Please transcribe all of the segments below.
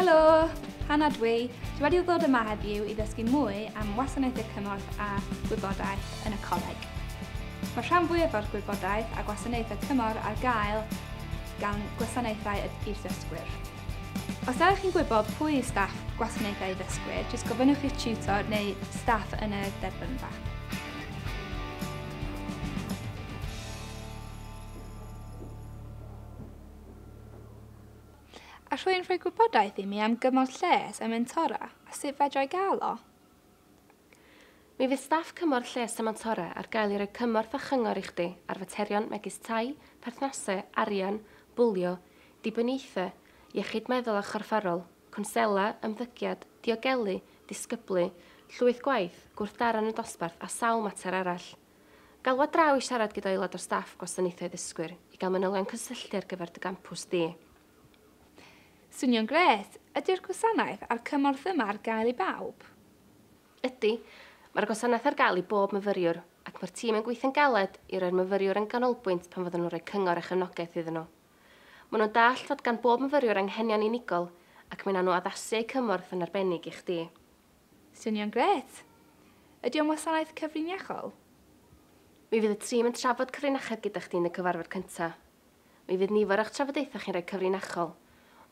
Helo! Hannah dwi. Dwi wedi ddod yma heddiw i ddysgu mwy am wasanaethau cymorth a gwybodaeth yn y coleg. Mae rhan fwyaf o'r gwybodaeth a gwasanaethau cymorth ar gael gan gwasanaethau i'r ddysgwyr. Os da chi'n gwybod pwy yw staff gwasanaethau ddysgwyr, jyst gofynnwch i'ch tutor neu staff yn y derbynfa. a rwy'n rhoi gwybodaeth i mi am gymorth lles a mentora a sut fedrai gael o. Mi fydd staff cymorth lles a mentora ar gael i roi cymorth a chyngor i chdi ar faterion megis tai, perthnasau, arian, bwlio, dibyniaethau, iechyd meddwl a chorfforol, cwnsela, ymddygiad, diogelu, disgyblu, llwyth gwaith, gwrthdaro yn y dosbarth a sawl mater arall. Galw ar draw i siarad gyda aelod o staff Gwasanaethau Ddysgwyr i gael manylion cysylltu ar gyfer dy gampws di. Swnio'n grêt! Ydy'r gwasanaeth a'r cymorth yma ar gael i bawb? Ydy. Mae'r gwasanaeth ar gael i bob myfyriwr, ac mae'r tîm yn gweithio'n galed i roi'r myfyriwr yn ganolbwynt pan fyddan nhw'n rhoi cyngor a chefnogaeth iddyn nhw. Maen nhw'n dallt fod gan bob myfyriwr anghenion unigol ac mae 'na nhw addasu eu cymorth yn arbennig i chdi. Swnio'n grêt! Ydy o'n wasanaeth cyfriniachol? Mi fydd y tîm yn trafod cyfrinachedd gyda chdi yn y cyfarfod cyntaf. Mi fydd nifer o'ch trafodaethau chi'n rhai cyfrinachol,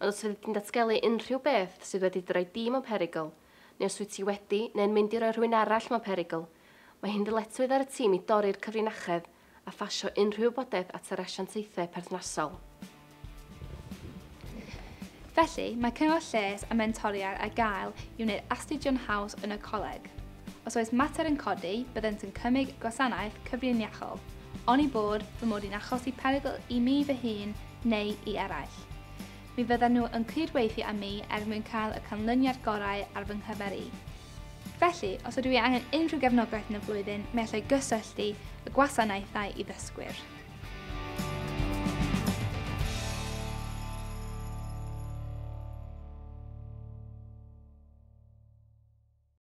ond os fyddi di'n datgelu unrhyw beth sydd wedi dy roi di mewn perygl, neu os wyt ti wedi neu'n mynd i roi rhywun arall mewn perygl, mae hi'n ddyletswydd ar y tîm i dorri'r cyfrinachedd a phasio unrhyw wybodaeth at yr asiantaethau perthnasol. Felly, mae cyngor lles a mentoriad ar gael i wneud astudio'n haws yn y coleg. Os oes mater yn codi, byddent yn cymryd gwasanaeth cyfrin iachol, oni bod fy mod i'n achosi perygl i mi fy hun neu i eraill. Mi fyddan nhw yn cydweithio â mi er mwyn cael y canlyniad gorau ar fy nghyfer i. Felly, os ydw i angen unrhyw gefnogaeth yn y flwyddyn, mi allai gysylltu y gwasanaethau i ddysgwyr.